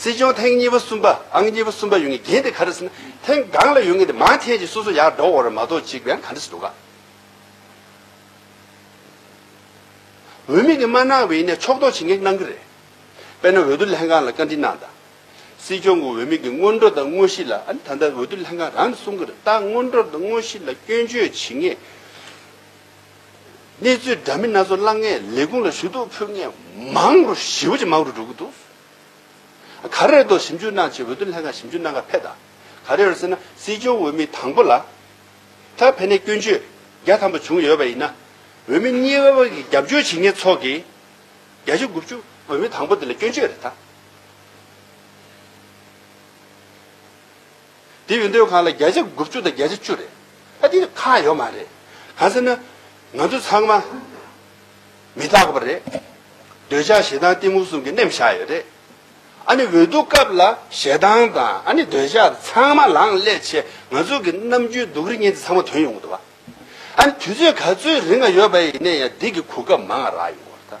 སྲིད་སྐྱོང་ཐེངས་གཉིས་པ་གསུམ་པ་ཨང་གཉིས་པ་གསུམ་པ་ཡོད་ངེས་རྒྱན་དེ་ག་རེ་ཟེར་ན་ཐེངས་གང་ལ་ཡོད་ངེས་དེ་མང་ཐེངས་ཀྱི་སོ་སོ་ཡར་འགྲོ་འོར་མ་གཏོགས་གཅིག་པའང་ག་འདྲ་ཞིག་འདུག་ག། འོས་མི་གིས་མ་གནང་བའི་ནས་ཕྱོགས་གཏོགས་བྱེད་ངེས་གནང་གི་རེད། དཔེར་ན་འོས་བསྡུ་ལྷན་ཁང་ལ་བཀའ་འདྲི་གནང་དང། སྲིད་སྐྱོང་གི་འོས་མི་གི་སྔོན་འགྲོ་དང་དངོས་གཞི་ལ་ཨ་ནི་ད་ལྟ་འོས་བསྡུ་ལྷན་ཁང་རང་ནས་གསུང་གི་རེད་ད་སྔོན་འགྲོ་དང་དངོས་གཞི་ལ་སྐྱོན་བརྗོད་བྱེད་ངེས། གནས་ཚུལ་འདྲ་མིན་སྣ་ཚོགས་བླངས་ངེས་ལས་ཁུངས་ལ་ཞུ་གཏུག་ཕུལ་ངེས་མང་རུ་ཞི་བ་ཅན་མང་རུ་འགྲོ་གི་འདུག་ག་རེ་རེད་ཞིབ་འཇུག་གནང་ཆེད་འོས་བསྡུ་ལྷན་ཁང་ཞིབ་འཇུག་གནང་སྐབས་ཕེབས་དང་ག་རེ་རེད་ཟེར་ན་སྲིད་སྐྱོང་འོས་མི་དང་པོ་ལ་ད་ཕན་ནས་སྐྱོན་བརྗོད་བརྒྱ་ཐམ་པ་བྱུང་ཡོད་པ་ཡིན་ན་འོས་མི་གཉིས་པ་བར་གྱི་རྒྱབ་སྐྱོར་བྱེད་མཁན་ཚོགས་ཀྱི་བརྒྱ་ཆ་དགུ་བཅུ་འོས་མི་དང་པོ་དེ་ལ་སྐྱོན་བརྗོད་རེད་ད། དེ་ཡོད་འདོད་ཁང་ལ་བརྒྱ་ཆ་དགུ་བཅུ་དང་བརྒྱ་ཆ་བཅུ་རེད། ཨ་དེ་ཁག་ཡོད་མ་རེད། གང་ཟེར་ན། ང་ཚོ་ཚང་མ། མི་རྟག་པ་རེད། འདོད་ཆགས་ཞེ་སྡང་གཏི་མུག་གསུམ་གྱི་རྣེམས་བཞག་ཡོད་རེད། ཨ་ནི་འོས་བསྡུ་སྐབས་ལ་ཞེ་སྡང་དང་ཨ་ནི་འདོད་ཆགས་ཚང་མ་ལངས་སླད་ཆེ་ང་ཚོ་གི་རྣམ་དཔྱོད་སྡུག་རི་ངན་དེ་ཚང་མ་དོན་ཡོང་གི་འདུག་བ། ཨ་ནི་དུས་ཚོད་ག་ཚོད་རིང་ཡོད་པ་ཡིན་ན་ཡང་སྡིག་གི་གོ་སྐབས་མང་རག་ཡོང་གི་འདུག་བ།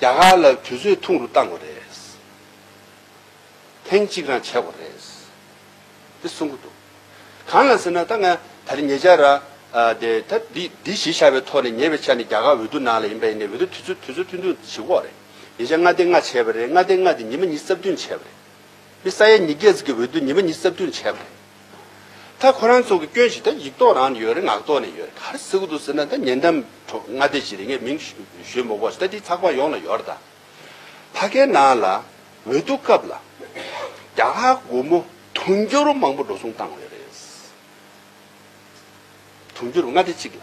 རྒྱ་གར་ལ་དུས་ཚོད་ཐུང་རུ་བཏང་བ་རེད། ཐེངས་གཅིག་རང་བྱས་བ་རེད། དེ་གསུང་གི་འདུག་གང་ལ་ཟེར་ན་ད་ང་ད་རེ་ཉེ་ཆར་ར། ད་འདི་འདི་ཞེས་བྱ་བའི་ཐོག་ནས་ཉེ་བའི་ཆ་ནས་རྒྱ་གར་འོས་བསྡུ་ནང་ལ་ཡིན་པ་ཡིན་ནའི་འོས་བསྡུ་དུས་ཚོད་དུས་ཚོད་ཐུང་ཐུང་བྱེད་ཁོག་རེད། ཉེ་ཆར་མངའ་སྡེ་ལྔ་བྱས་བ་རེད་མངའ་སྡེ་ལྔ་དེ་ཉི་མ་གཉིས་རྩ་བདུན་བྱས་བ་རེད། དེ་ས་ཡ་ཉིས་བརྒྱད་ཟིག་གི་འོས་བསྡུ་ཉི་མ་གཉིས་རྩ་བདུན་བྱས་བ་རེད། ད་ཁོ་རང་ཚོ་གི་སྐྱོན་ཞིག་ད་ཡིག་ཐོག་རང་ནས་ཡོད་རེད་ངག་ཐོག་ནས་ཡོད་རེད་ག་རེ་ཟེར་གི་འདུག་ཟེར་ན་ད་ཉེ་འགྲམ་དྲོ་སྔ་ལྟས་ཞིག་རེད་ངས་མིང་ཞུས་མ་གོ་ཟེར་ད་དེ་ཚགས་པར་ཡོངས་ལ་ཡོད་རེད་ད། ཕ་ཁའི་ནང་ལ་འོས་བསྡུ་སྐབས་ལ་རྒྱ་གར་སྒོར་མོ་དུང་ཕྱུར་རུ་མང་པོ་འགྲོ་སོང་བཏང་ཡོད་རེད། དུང་ཕྱུར་རུ་ལྔ་སྡེ་གཅིག་ལ།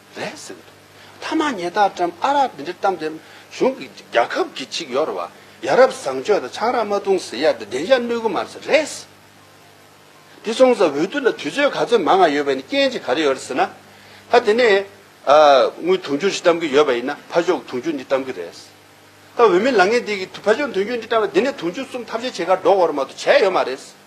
རེད་ཟེར་གྱི་འདུག་མཐའ་མ་ཉེ་རྟགས་ཀྲམ་ཨ་རག་འདི་འདྲའི་གཏམ་དེ་གཞུང་གི་རྒྱ་ཁབ་ཀྱི་ཅིག་ཡོ་ར་བ་ཡ་རབ་བཟང་སྤྱོད་དང་ཆང་རག་མ་བཏུང་ཟེར་ཡ་དེ་བདེན་ཤ་གནོད་གི་མ་རེད་ཟེར་རེད་ཟེར་དེ་སོང་ཙང་འོས་བསྡུ་ལ་དུས་ཚོད་ག་ཚོད་མ་ང་ཡོད་པ་ཡིན་རྐྱེན་ཅིག་ག་རེ་ཡོད་རེད་ཟེར་ན་ད་དེ་ནས་དངུལ་དུང་ཕྱུར་ཞིག་གཏམ་གི་ཡོད་པ་ཡིན་ན་ཕ་ཤོག་དུང་ཕྱུར་འདི་གཏམ་གི་རེད་ཟེར་ད་འོས་མི་ལང་ངེ་འདི་གི་ཕ་ཤོག་དུང་ཕྱུར་འདི་གཏམ་ན་དེ་ནས་དུང་ཕྱུར་གསུམ་ཐབས་ཤེས་བྱེད་ཁར་འགྲོ་དགོས་ར་མ་གཏོགས་བྱས་ཡོད་མ་རེད་ཟེར།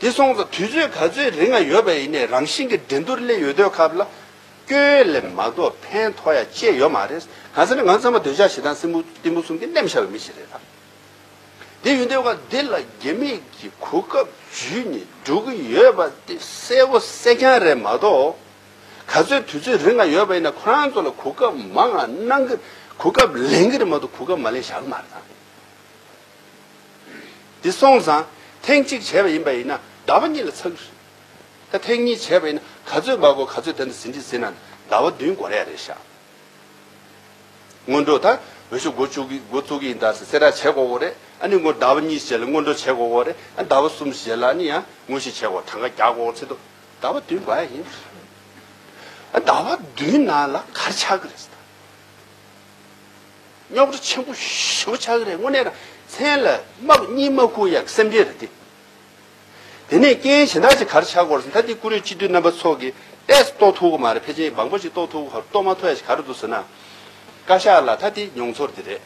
དེ་སོང་ཙང་དུས་ཚོད་ག་ཚོད་རིང་ང་ཡོད་པ་ཡིན་ནའི་རང་བཞིན་གྱི་འགྲན་སྡུར་སླེ་ཡོད་དོས་ཁབ་ལ་སྐྱོའི་ལས་མ་གཏོགས་ཕན་ཐོག་ཡ་ཅེས་ཡོད་མ་རེད། གང་ཟེར་ན་ང་ཚང་མ་འདོད་ཆགས་ཞེ་སྡང་སྲིན་འབུ་གཏི་མུག་གསུམ་གྱི་རྣལ་མ་ཤར་བའི་མི་ཞིག་རེད་ད། དེ་ཡིན་དོས་ཁ་འདི་ལ་རྒྱ་མི་གྱི་གོ་སྐབས་འཇུས་ནས་འགྲོ་གི་ཡོད་པ་དེ་གསལ་བོ་གསལ་རྐྱང་རེད་མ་གཏོགས། ག་ཚོད་དུས་ཚོད་རིང་ང་ཡོད་པ་ཡིན་ནའི་ཁོ་རང་ཚོ་ལ་གོ་སྐབས་མང་ང་གནང་གི་གོ་སྐབས་ལེན་གི་རེད་མ་གཏོགས་གོ་སྐབས་མ་ལེན་ཞར་མ་རེད་ད། འདི་སོང་ཙང་ཐེངས་གཅིག་བྱས་པ་ཡིན་པ་ཡིན་ན་ཟླ་བ་གཉིས་ལ་ཚགས་ཀྱི་རེད། ད་ཐེངས་གཉིས་བྱས་པ་ཡིན་ན་ག་ཚོད་འབབ་དགོས་ག་ཚོད་དེ་འདྲ་ཟིན་གྱི་ཟིན་ན་ཟླ་བ་བདུན་འགོར་ཡ་རེད་ཤག་སྔོན་འགྲོ་ད་འོས་ཤོག་འགོ་བཅུག་གི་འགོ་བཙུགས་ཀྱི་ཡིན་ད་སེ་ར་བྱེད་དགོས་གོ་རེད་ཨ་ནི་འགོ་ཟླ་བ་གཉིས་བྱས་ལ་སྔོན་འགྲོ་བྱེད་དགོས་གོ་རེད་ཨ་ཟླ་བ་གསུམ་བྱས་ལ་ཨ་ནི་ཡང་དངོས་གཞི་བྱེད་དགོས་གྲངས་ཀ་རྒྱག་དགོས་ཚེ་ཏོ་ཟླ་བ་བདུན་འགོ་ཡ་ཡིན། ཨ་ཟླ་བ་བདུན་ནང་ལ་ག་རེ་ཆགས་ཀྱི་རེད་ཟེ་ད། རྙོག་དྲ་ཆེན་པོ་ཞེ་བོ་ཆགས་ཀྱི་རེད་དངོས་གནས་དང་མཚན་ལ་དམག་གཉིས་མ་བསྐུར་ཡག་སེམས་ཅན་རེད་དེ། དེ་ནས་སྐད་ཡན་གཞན་དག་ཅིག་གར་ཆགས་སྐོར་ཟེར་མཐའ་དེ་ཀུ་རེ་སྤྱི་འཐུས་རྣམ་པ་ཚོགས་ཀྱི་ལྟས་སུ་རྟོགས་ཐུབ་གི་མ་རེད་ཕལ་ཆེན་འབངས་པོ་ཅིག་རྟོགས་ཐུབ་གི་རྟོགས་མ་ཐུབ་ཡ་ཞིག་ག་རེ་འདུག་ཟེར་ན། བཀའ་ཤག་ལ་མཐའ་དེ་མྱོང་ཚོར་དེ་རེད།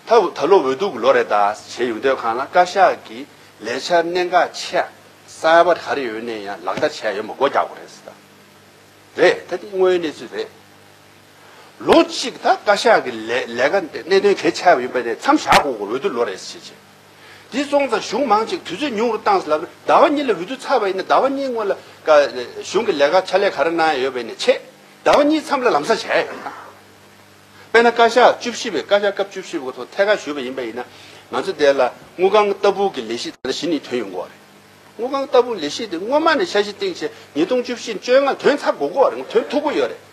མཐའ་ད་ལོ་འོས་ལྡུག་གི་ལོ་རེད་ད་བྱས་ཡོད་འདོད་ཁང་ལ་བཀའ་ཤག་གི་ལས་འཆར་གནད་འགག་ཆེ་སར་བ་ག་རེ་ཡོད་གནས་ཡང་ལག་བསྟར་བྱས་ཡོད་མ་སྒོ་རྒྱག་པ་རེད་ཟེར་ད་རེད་མཐའ་དེ་དངོས་ཡོད་གནས་ཚུལ་རེད། ལོ་གཅིག་ད་བཀའ་ཤག་གི་ལས་ཀ་གནད་དོན་གལ་ཆེ་བ་ཡིན་པ་ནས་མཚམས་བཞག་གོང་གི་འོས་བསྡུ་ལོ་རེ་བྱེད་ཆེད། དེ་སོང་ཙང་གཞུང་མང་གཅིག་དུས་ཚོད་ཉུང་རུ་བཏང་ཟླ་བ་གཉིས་ལ་འོས་བསྡུ་ཚར་བ་ཡིན་ན་ཟླ་བ་གཉིས་སྔོན་ལ་གཞུང་གི་ལས་ཀ་ཕྱག་ལས་ག་རེ་གནང་ཡ་ཡོད་པ་ཡིན་ན་ཆེད་ཟླ་བ་གཉིས་མཚམས་ལ་ལམ་སང་བྱ་ཡ་ཡོད་ན། དཔེ་ན་བཀའ་ཤག་བཅུ་བཞི་པའི་བཀའ་ཤག་སྐབས་བཅུ་བཞི་པའི་ཐོག་ཐད་ཀར་ཞུས་པ་ཡིན་པ་ཡིན་ན་ང་ཚོ་དེ་ལ་དངུལ་ཁང་ལྟ་བུ་གི་ལས་གཞི་ད་ལྟ་བཞི་ནི་དོན་ཡོད་འགོ་བ་རེད། དངུལ་ཁང་ལྟ་བུ་ལས་གཞི་དེ་སྔོན་མ་ནས་འཆར་གཞི་བཏིང་ཆེད་ཉིས་སྟོང་བཅུ་བཞི་བཅོ་ལྔ་དོན་ཚར་འགོ་གོ་བ་རེད་དོན་ཐུག་གོ་ཡོད་རེད།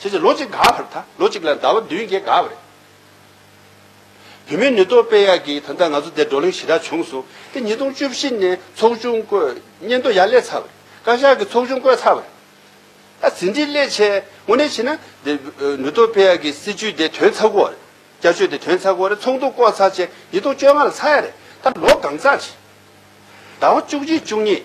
བྱས་ཚེ་ལོ་གཅིག་འགའ་བར་ད་ལོ་གཅིག་ལ་ཟླ་བ་བདུན་བརྒྱད་འགའ་བར་རེད། བུད་མེད་ནུས་སྟོབས་སྤེལ་ཡག་གིས་ད་ལྟ་ང་ཚོ་འདིར་བགྲོ་གླེང་ཞེ་དྲག་བྱུང་སོང་སྟེ་ཉིས་སྟོང་བཅུ་བཞི་ནས་ཚོགས་ཆུང་བསྐོས་སྙན་ཐོ་ཡར་སླེབས་ཚར་བ་རེད་བཀའ་ཤག་གིས་ཚོགས་ཆུང་བསྐོས་ཚར་བ་རེད། ད་ཟིན་བྲིས་སླད་ཆད་དངོས་གནས་བྱས་ན་འདིར་ནུས་སྟོབས་སྤེལ་ཡག་གི་སྲིད་བྱུས་དེ་དོན་ཚར་གོ་རེད་བསྐྱར་བཅོས་དེ་དོན་ཚར་གོ་རེད་ཚོགས་འདུ་བསྐོ་ཚར་ཆད་ཉིས་སྟོང་བཅོ་ལྔ་ལ་ཚར་ཡག་རེད་ད་ལོ་གང་ཚར་བྱས། ཟླ་བ་བཅུ་གཅིག་བཅུ་གཉིས།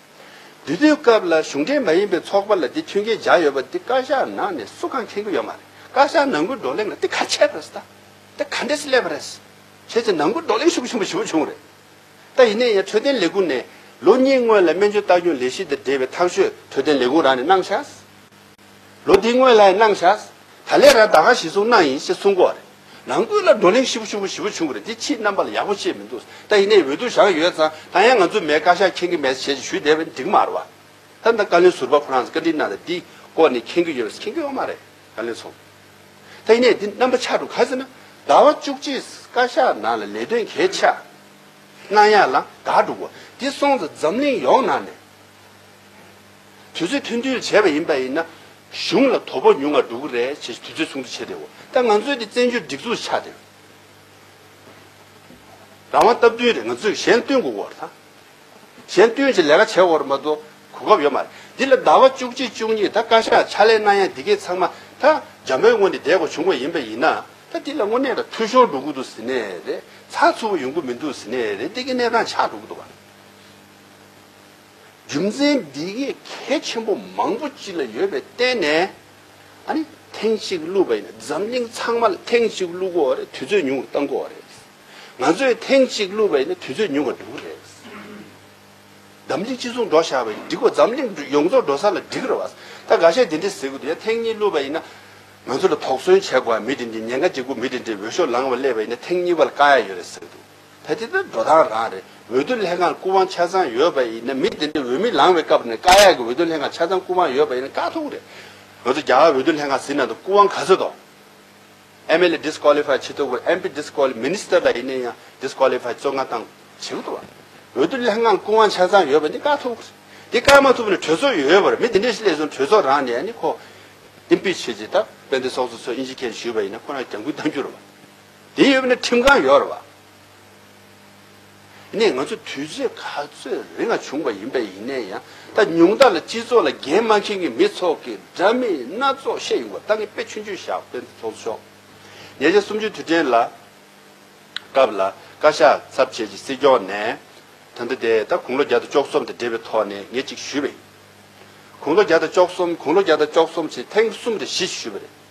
འདི་དུས་སྐབས་ལ་གཞུང་འབྲེལ་མ་ཡིན་པའི་ཚོགས་པ་ལ་འདི་མཐུན་རྐྱེན་སྦྱར་ཡོད་པ་འདི་བཀའ་ཤག་ནང་ནས་སུ་གང་མཁྱེན་གི་ཡོད་མ་རེད་བཀའ་ཤག་ནང་ཁུལ་བགྲོ་གླེང་ལ་འདི་ག་ཆད་རེད་ཟེར་ད་འདི་ག་འདྲེས་སླེབས་པ་རེད་བྱས་ཚེ་ནང་ཁུལ་བགྲོ་གླེང་ཤུགས་ཆེན་པོ་བྱེད་པོ་བྱུང་རེད་ད་ཡིན་ནས་ཡང་འཕྲོད་བསྟེན་ལས་ཁུངས་ནས་ལོ་གཉིས་སྔོན་ལ་སྨན་བཅོས་ལྟ་སྐྱོང་ལས་གཞི་དེ་འབྲེལ་བའི་ཐག་གཅོད་འཕྲོད་བསྟེན་ལས་ཁུངས་རང་ནས་གནང་བཞག་ལོ་འདིའི་སྔོན་ལའེ་གནང་བཞག། ད་ལས་ར་ད་ག་ཞིག་གསུང་གནང་ཡིན་ཞེས་གསུང་གོ། ནང་ཁུལ་ལ་བགྲོ་གླེང་ཤི་བོ་ཤུ་བོ་ཞི་བོ་བྱུང་གི་རེད་དེ་ཕྱིའི་རྣམ་པ་ལ་ཡག་པོ་ཤེས་མི་འདུག་ད་ཡིན་ནའི་འོས་བསྡུ་བཞག་ཡོད་ཙང་ད་ཡང་ང་ཚོ་མའི་བཀའ་ཤག་མཁྱེན་གི་མེད་ཟེར་བྱས་ཅི་ཞུས་བསྡད་པས་འགྲིག་མ་རོ། ད་ད་བཀའ་བློན་ཟུར་པ་ཁོ་རང་ཚོ་བཀའ་དྲིན་གནང་ནས་འདིའི་སྐོར་ནས་མཁྱེན་གི་ཡོད་མེད་མཁྱེན་གི་ཡོད་མ་རེད་བཀའ་བློན་ཚོ། ད་ཡིན་ནའི་འདི་རྣམ་པ་ཆགས་འགྲོ་ག་ཟེར་ན་ཟླ་བ་བཅུ་གཅིག་བཀའ་ཤག་ནང་ལ་ལས་དོན་གལ་ཆགས་གནང་ཡག་ལ་དག་འགྲོ་གོ་འདི་སོང་ཙང་འཛམ་གླིང་ཡོངས་ནང་ནས། དུས་ཚོད་མཐུན་འཐུན་བྱས་པ་ཡིན་པ་ཡིན་ན། གཞུང་ལ་དོ་ཕོག་ཉུང་བ་འགྲོ་གི་རེད་ཅེས་དུས་ཚོད་ཚོགས་འདུ་བྱས་ཏེ་འོ་ད་ང་ཚོའི་དེ་བཙན་བྱོལ་སྒྲིག་འཛུགས་ཆགས་ཏེ། རང་དབང་སྟབས་བསྟུན་རེད་ང་ཚོས་གཞན་སྟོན་དགོས་འོར་ཐང། གཞན་སྟོན་གྱི་ལས་ཀ་བྱས་འོར་མ་གཏོགས་གོ་སྐབས་ཡོད་མ་རེད། འདི་ལ་ཟླ་བ་བཅུ་གཅིག་བཅུ་གཉིས་ད་བཀའ་ཤག་ཕྱག་ལས་གནང་ཡ་འདི་གས་ཚང་མ་ད་རྒྱ་མོའི་སྔོན་ནས་བསྡད་དགོས་བྱུང་དགོས་ཡིན་པ་ཡིན་ན། ད་འདི་ལ་དངོས་གནས་ད་འཐུས་ཤོར་འགྲོ་གི་འདུག་ཟེར་ནས་རེད་ཚགས་ཚུད་པོ་ཡོང་གི་མི་འདུག་ཟེར་ནས་རེད་འདི་གས་གནས་སྟངས་ཆགས་འགྲོ་གི་འདུག་བ། རྒྱུ་མཚན་འདི་གས་གལ་ཆེན་པོ་མང་པོ་ཅི་ལ་ཡོད་པའི་བརྟེན་ནས་ཨ་ནི་ཐེངས་གཅིག་བསླུས་པ་ཡིན། འཛམ་གླིང་ཚང་མ་ལ་ཐེངས་གཅིག་བསླུ་གོ་རེད་དུས་ཚོད་ཉུང་བ་བཏང་གོ་རེད། ང་ཚོས་ཐེངས་གཅིག་བསླུས་པ་ཡིན་དུས་ཚོད་ཉུང་བ་འགྲོ་གི་རེད། འཛམ་གླིང་སྤྱི་ཚོགས་འགྲོ་བཞག་པ་ཡིན་འགྲིག་གོ་འཛམ་གླིང་ཡོངས་རྫོགས་འགྲོ་ས་ལ་འགྲིག་རེད་བ། ད་ག་ཤེད་དེ་འདྲས་ཟེར་གི་འདུག་ཡ་ཐེངས་གཉིས་བསླུས་པ་ཡིན་ན་ང་ཚོ་ལ་དོགས་ཟོན་བྱས་གོ་ཡ་མི་དེ་འདྲས་ཉེན་ཁ་འབྱེད་གོ་མི་དེ་འདྲས་འོས་ཤོག་ལངས་བ་སླེབས་པ་ཡིན་ན་ཐེངས་གཉིས་བ་ལ་དཀའ་ཡ་ཡོད་རེད་ཟེར་གི་འདུག། ད་དེ་ལྟར་འགྲོ་སྟངས་རང་རེད། འོས་བསྡུ་ལྷན་ཁང་སྐུ་དབང་ཆ་ཚང་ཡོད་པ་ཡིན་ན་མི་དེ་འདྲས་འོས་མི་ལངས་བའི་སྐབས་ནས་བཀའ་ཡག་གི་འོས་བསྡུ་ལྷན་ཁང་ཆ་ཚང་སྐུ་དབང་ཡོད་པ་ཡིན་ན་དཀའ་ཐུག་རེད། ང་ཚོ་རྒྱ་གར་འོས་བསྡུ་ལྷན་ཁང་ཟིན་ནང་དུ་སྐུ་དབང་ག་ཚོད་དོ། MLA Disqualify བྱེད་ཐུབ་དགོས MP Disqualify Minister ལ་ཡིན་ན་ཡང Disqualify གཙོ་འགན་དང་བྱེད་གི་འདུག་བ། འོས་བསྡུ་ལྷན་ཁང་སྐུ་དབང་ཆ་ཚང་ཡོད་པ་འདི་དཀའ་ཐུག་རེད། དེ་དཀའ་མ་ཐུབ་ན་གྲོས་ཚོགས་ཡོད་པར་མི་དེ་འདྲས་སླེབས་སོང་གྲོས་ཚོགས་རང་ནས་ཡང་ནི་ཁོ Impeach བྱེད་ཅེས་ད་དཔལ་ལྡན་སོགས་སུ་ཚོས་ཨིན་ཇི་ཁེ་ཞུས་པ་ཡིན་ན་ཁོ་རང་རྒྱབ་འགུལ་གཏང་རྒྱུ་རེད་བ། དེ་ཡོད་ན་ཁྲིམས་གང་ཡོད་རེད་བ། ནས་ང་ཚོ་དུས་ཚོད་ག་ཚོད་རེ་ང་བྱུང་བ་ཡིན་པས་ཡིན་ནའི་ཡང་ད་ཉུང་དག་ལ་སྤྱི་ཚོགས་ལ་འགན་མ་མཁྱེན་གི་མི་ཚོགས་ཀི་འདྲ་མི་སྣ་ཚོགས་བཤད་ཡོང་བ་ད་ངས་དཔེ་ཆུང་ཆུང་བཞག་དཔེ་འདི་ཚོགས་ཆོག་ཉེ་ཆར་སུམ་ཅུ་དུས་དྲན་ལ་སྐབས་ལ་བཀའ་ཤག་ཚབ་བྱས་ཀྱི་སྲིད་སྐྱོང་ནས་ད་འདི་དེ་ད་དགུང་ལོ་བརྒྱ་དང་བཅོ་གསུམ་དང་འབྲེལ་བའི་ཐོག་ནས་ངས་ཅིག་ཞུས་པ་ཡིན་དགུང་ལོ་བརྒྱ་དང་བཅོ་གསུམ་དགུང་ལོ་བརྒྱ་དང་བཅོ་གསུམ་ཚེ་ཐེངས་གསུམ་རེ་བཞི་ཞུས་པ་རེད།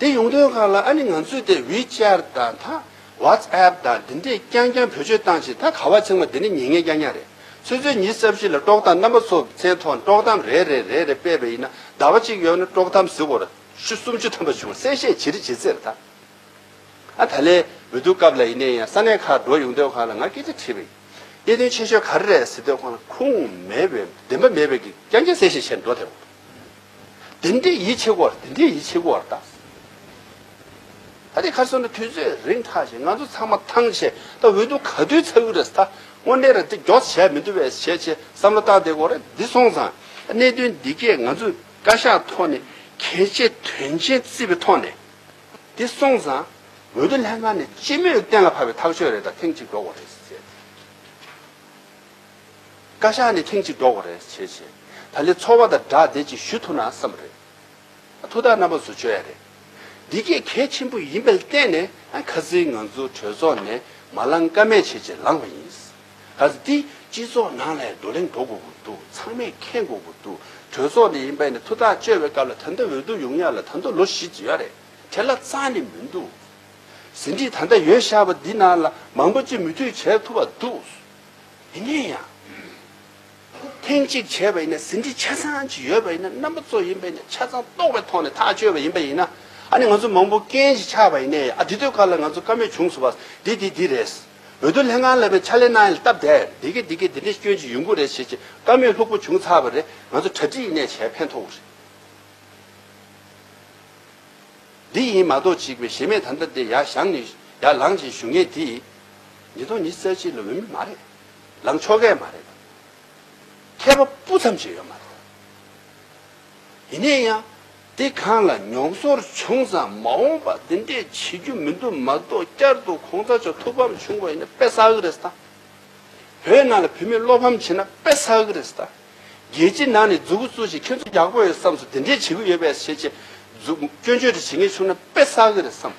དེ་ཡོང་དོན་གང་ལ་ཨ་ནི་ང་ཚོས་དེ་ཝི་ཅལ་ད་ད། ཝཱཏ་ཨེབ་ད་འདི་འདྲས་རྐྱང་རྐྱང་བེད་སྤྱོད་བཏང་ཆེད་ད་ག་བ་ཚེག་མ་འདི་འདྲས་ཉེ་ངེས་རྐྱང་རྐྱང་རེད། ཚོད་ཚོད་ཉིས་རྩ་བཞི་ལ་དཀྲོག་གཏམ་རྣམ་པ་ཚོ་མཚན་ཐོག་ནས་དཀྲོག་གཏམ་རེ་རེ་རེ་རེ་སྤེལ་བས་ཡིན་ན་ཟླ་བ་གཅིག་ཡོལ་ན་དཀྲོག་གཏམ་གཟི་བོར་ཤུ་སུམ་ཅུ་ཐམ་པ་བྱུང་གསལ་བཤད་ཇི་རི་ཇི་རྩེར་ད་ཨ་ད་ལས་མི་འདུག་སྐབས་ལ་ཡིན་ནའི་ཡང་ས་གནས་ཁག་འགྲོ་ཡོང་དོན་གང་ལ་ང་སྐད་ཆ་དྲིས་པ་ཡིན། གནད་དོན་ཆེ་ཤོས་ག་རེ་རེད་ཟེར་དོན་གང་ལ་ཁུངས་མེད་བས་བདེན་པ་མེད་བས་ཀྱི་རྐྱང་རྐྱང་གསལ་བཤད་བྱས་འགྲོ་ཐལ་བ། འདི་འདྲས་ཡིད་ཆེས་གོ་བར་འདི་འདྲས་ཡིད་ཆེས་གོ་བར་གདའ། ད་དེ་གར་སོང་ནས་དུས་ཚོད་རིང་ཐག་བཞིན་ང་ཚོ་ཚང་མ་ཐང་ཆད་ད་འོས་བསྡུ་ག་དུས་ཚར་གི་རེད་ད་དངོས་གནས་རེད་འདི་མགྱོགས་བྱས་མི་འདུག་བས་བྱས་བྱས་བསམ་བློ་བཏང་བསྡད་གོ་རེད་འདི་སོང་ཙང་གནད་དོན་འདི་གས་ང་ཚོས་བཀའ་ཤག་ཐོག་ནས་གལ་ཆེ་དོན་ཆེན་བརྩིས་པའི་ཐོག་ནས་འདི་སོང་ཙང་འོས་བསྡུ་ལྷན་ཁང་ནས་སྤྱི་མོས་གཏན་ལ་ཕབ་པའི་ཐག་ཆོད་རེད་ད་ཐེངས་གཅིག་འགྲོ་གོ་རེད་ཟེར། བཀའ་ཤག་ནས་ཐེངས་གཅིག་འགྲོ་བ་རེད་བྱས་བྱས་ད་ལས་ཚོར་བ་དང་སྒྲགས་བསྡད་ཅིག་ཞུ་ཐུབ་ན་བསམ་པ་རེད། ཐུགས་ཐག་རྣམ་པ་བཟོ་བྱོས་ཡ་རེད། འདི་གས་གལ་ཆེན་པོ་ཡིན་པ་བལྟས་ནས་ཁ་ཟིར་ང་ཚོ་གྲོས་ཚོགས་ནས་མ་བླངས་ཀ་མེད་བྱས་བྱས་ལངས་པ་ཡིན། ག་ཟེ་འདི་སྤྱི་ཚོགས་ནང་ལ་བགྲོ་གླེང་འགྲོ་དགོས་དགོས་འདུག་ཚང་མས་མཁྱེན་དགོས་དགོས་འདུག་གྲོས་ཚོགས་ནས་ཡིན་པས་ནས་ཐུགས་ཐག་གཅོད་པའི་སྐབས་ལ་ད་ལྟ་འོས་བསྡུ་ཡོང་ཡ་ལ་ད་ལྟ་ལོ་བཞི་བརྩི་ཡ་རེད་དེ་ལ་རྩང་ནས་མི་འདུག་ཟིན་བྲིས་ད་ལྟ་ཡོད་ཤག་པ་འདི་ནང་ལ་མང་པོ་ཅིག་མུ་མཐུད་བྱས་ཐུབ་པ་འདུག། མི་ནུས་ཡང། ཐེངས་གཅིག་བྱས་པ་ཡིན་ན་ཟིན་བྲིས་ཆ་ཚང་ཅིག་ཡོད་པ་ཡིན་ན་རྣམ་པ་གཙོ་ཡིན་པས་ནས་ཆ་ཚང་རྟོགས་པའི་ཐོག་ནས་ཐག་གཅོད་པ་ཡིན་པ་ཡིན་ན་ཨ་ནི་ང་ཚོ་མང་པོ་རྐྱེན་ཞིག་ཆགས་པ་ཡིན་ནས་ཨ་འདི་དོད་ཁ་ལ་ང་ཚོ་དཀའ་མོད་བྱུང་སོ་བ་འདི་འདི་འདི་རེད། འོས་བསྡུ་ལྷན་ཁང་ལ་བའི་ཕྱག་ལས་གནང་ཡས་ལ་སྟབས་དེ་འདི་གི་འདི་གི་འདི་འདི་སྐྱོན་ཅིག་ཡོད་འགུ་རེད་བྱེད་ཅིག་དཀའ་མོད་ལྷུག་པོ་བྱུང་ཚར་བ་རེད་ང་ཚོ་གྲ་སྒྲིག་ཡིན་ནས་བྱས་ཕན་ཐོག་འུ་རེད། འདི་ཡིན་མ་གཏོགས་ཅིག་བས་ཞེ་མེད་ད་ལྟ་འདི་ཡ་བཞང་ནི་ཡར་ལངས་ཅིག་ཞུ་ངེས་འདི། ཉིས་སྟོང་ཉིས་བརྩེགས་ཅིག་ལ་འོས་མི་མ་རེད། ལམ་ཕྱོགས་འགལ་མ་རེད། མཁས་པ་སྤུ་ཙམ་ཞིག་ཡོད་མ་རེད། ཡིན་ནས་ཡང་འདི་གང་ལ་མྱོང་ཚོར་བྱུང་ཙང་མ་འོངས་པ་འདི་འདྲས་བྱེད་རྒྱུ་མི་འདུག་མ་གཏོགས་བསྐྱར་དུ་གོང་ཚ་ཆོག་ཐུགས་ཕམ་བྱུང་བ་ཡིན་ན་དཔེ་བསགས་ཀྱི་རེད་ས་ད། བོད་ནང་ལ་བུད་མེད་བློ་ཕམ་བྱེད་ན་དཔེ་བསགས་ཀྱི་རེད་ས་ད། རྒྱལ་སྤྱི་ནང་ནས་རྫུ་གུ་གཙུག་བཞིན་ཁྱོད་ཚོ་ཡག་པོ་ཡོད་བསམས་སོ་དེ་འདྲས་བྱེད་ཀྱི་ཡོད་པས་བྱེད་ཅེས་རྫུ་སྐྱོན་བརྗོད་འདྲ་བྱེད་ངེས་བྱུང་ན་དཔེ་བསགས་ཀྱི་རེད་བསམས།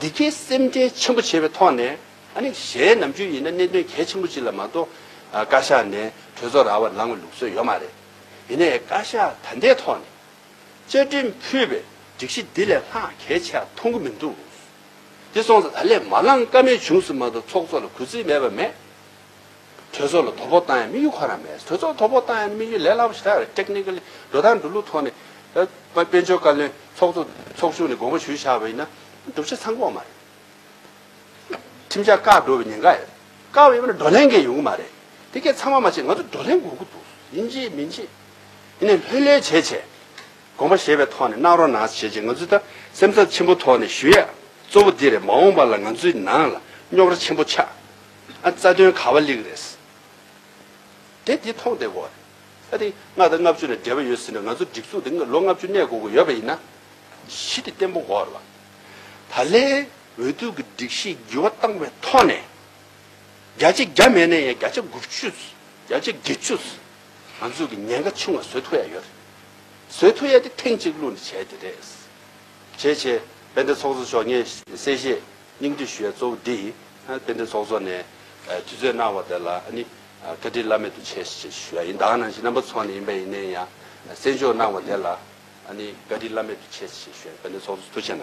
འདི་སྐད་སེམས་ཁྲལ་ཆེན་པོ་བྱས་པའི་ཐོག་ནས་ཨ་ནི་གཞན་ནམ་རྒྱུན་ཡིན་ན་གནད་དོན་གལ་ཆེན་པོ་གཅིག་ལ་མ་གཏོགས་བཀའ་ཤག་ནས་གྲོས་ཚོགས་ར་བར་ལངས་བའི་ལུགས་སྲོལ་ཡོད་མ་རེད། ཡིན་ནའི་བཀའ་ཤག་ད་ལྟའི་ཐོག་ནས་བཅའ་ཁྲིམས་ཕུད་པའི་སྒྲིག་གཞི་འདི་ལས་ལྷག་གལ་ཆེ་བ་མཐོང་གི་མི་འདུག་དེ་སོང་ཙང་ད་ལས་མ་ལངས་ཀ་མེད་བྱུང་ཟིན་མ་གཏོགས་ཚོགས་གཙོ་ལ་གུས་བརྩི་མེད་པ་མེད། གྲོས་ཚོགས་ལ་དོ་ཕོག་བཏང་ཡང་དམིགས་ཡུལ་ཁོ་ན་མེད། གྲོས་ཚོགས་ལ་དོ་ཕོག་བཏང་ཡང་དམིགས་ཡུལ་ལས་སླ་པོ་ཞིག་ད་རེད། Technically། འགྲོ་སྟངས་འགྲོ་ལུགས་ཐོག་ནས། དཔལ་འབྱོར་བཀའ་བློན་ཚོགས་གཙོ་ཚོགས་ཆུང་ནས་དགོངས་པ་ཞུ་བཞག་པ་ཡིན་ན། སྒྲུབ་བྱེད་ཚང་དགོངས་མ་རེད། ཁྲིམས་འཆར་བཀག་འགྲོ་བའི་ཉེན་ཁ་ཡོད། བཀག་ཡོད་པ་ནི་བགྲོ་གླེང་འགའ་ཡོང་གི་མ་རེད། དེ་སྐད་ཚང་མ་མ་བྱས་ང་ཚོ་བགྲོ་གླེང་དགོས་ཀྱི་འདུག་ཡིན་ཅེས་མིན་ཅེས། དེ་ནས་ལྷོད་ལྷོད་བྱས་བྱས། དགོངས་པ་བཞེས་པའི་ཐོག་ནས་གནང་རོགས་གནང་བྱས་བྱས་ང་ཚོས་ད་སེམས་ཚབས་ཆེན་པོ་ཐོག་ནས་ཞུ་ཡ་གཙོ་བོ་འདི་རེད་མ་འོངས་པ་ལ་ང་ཚོའི་ནང་ལ་རྙོག་ར་ཆེན་པོ་ཆགས། ཨ་རྩ་དོན་ག་བ་ལིག་རེད། དེ་འདི་མཐོང་བསྡད་གོ། ཨ་ཏི་ལྔ་དང་ལྔ་བཅུ་ལ་འབྲེལ་བ་ཡོད་ཟེར་ནས་ང་ཚོ་སྒྲིག་འཛུགས་འདི་ལོ་ལྔ་བཅུ་གནས་དགོས་དགོས་ཡོད་པ་ཡིན་ན། གཞི་དེ་བརྟན་པོ་གོ་ར་བ། ད་ལན་འོས་བསྡུ་གི་སྒྲིག་གཞི་བགྱི་བ་བཏང་བའི་ཐོག་ནས། བརྒྱ་ཆ་བརྒྱ་མེད་ན་ཡང་བརྒྱ་ཆ་དགུ་བཅུ། བརྒྱ་ཆ་བརྒྱད་བཅུ། ང་ཚོ་གི་ཉེན་ཁ་ཆུང་བ་བཟོས་ཐུབ་ཡ་ཡོད་རེད། བཟོས་ཐུབ་ཡ་དེ་ཐེངས་གཅིག་གླུ་འདི་བྱས་དེ་རེད། བྱས་བྱས་དཔལ་ལྡན་ཚོགས་གཙོ་མཆོག་ངས་གསལ་བཤད། སྙིང་བསྡུས་ཞུ་བའི་གཙོ་བོ་འདི་ཡིས། རྟེན་འབྲེལ་ཚོགས་གཙོ་ནས། དུས་ཚོད་གནང་བ་དེ་ལ་ནི། བཀའ་དྲིན་བླ་མེད་དུ་ཆེ་ཞེས་ཞུ་བ་ཡིན། བདག་ནང་བཞིན་རྣམ་པ་ཚོགས་ནས་ཡིན་པ་ཡིན་ནའི་ཡང། གསན་འཇོག་གནང་བ་དེ་ལ་ནི། བཀའ་དྲིན་བླ་མེད་དུ་ཆེ་ཞེས་ཞུ་བ་ཡིན། དཔལ་ལྡན་ཚོགས་གཙོ་མཐུ་ཆེ་ན།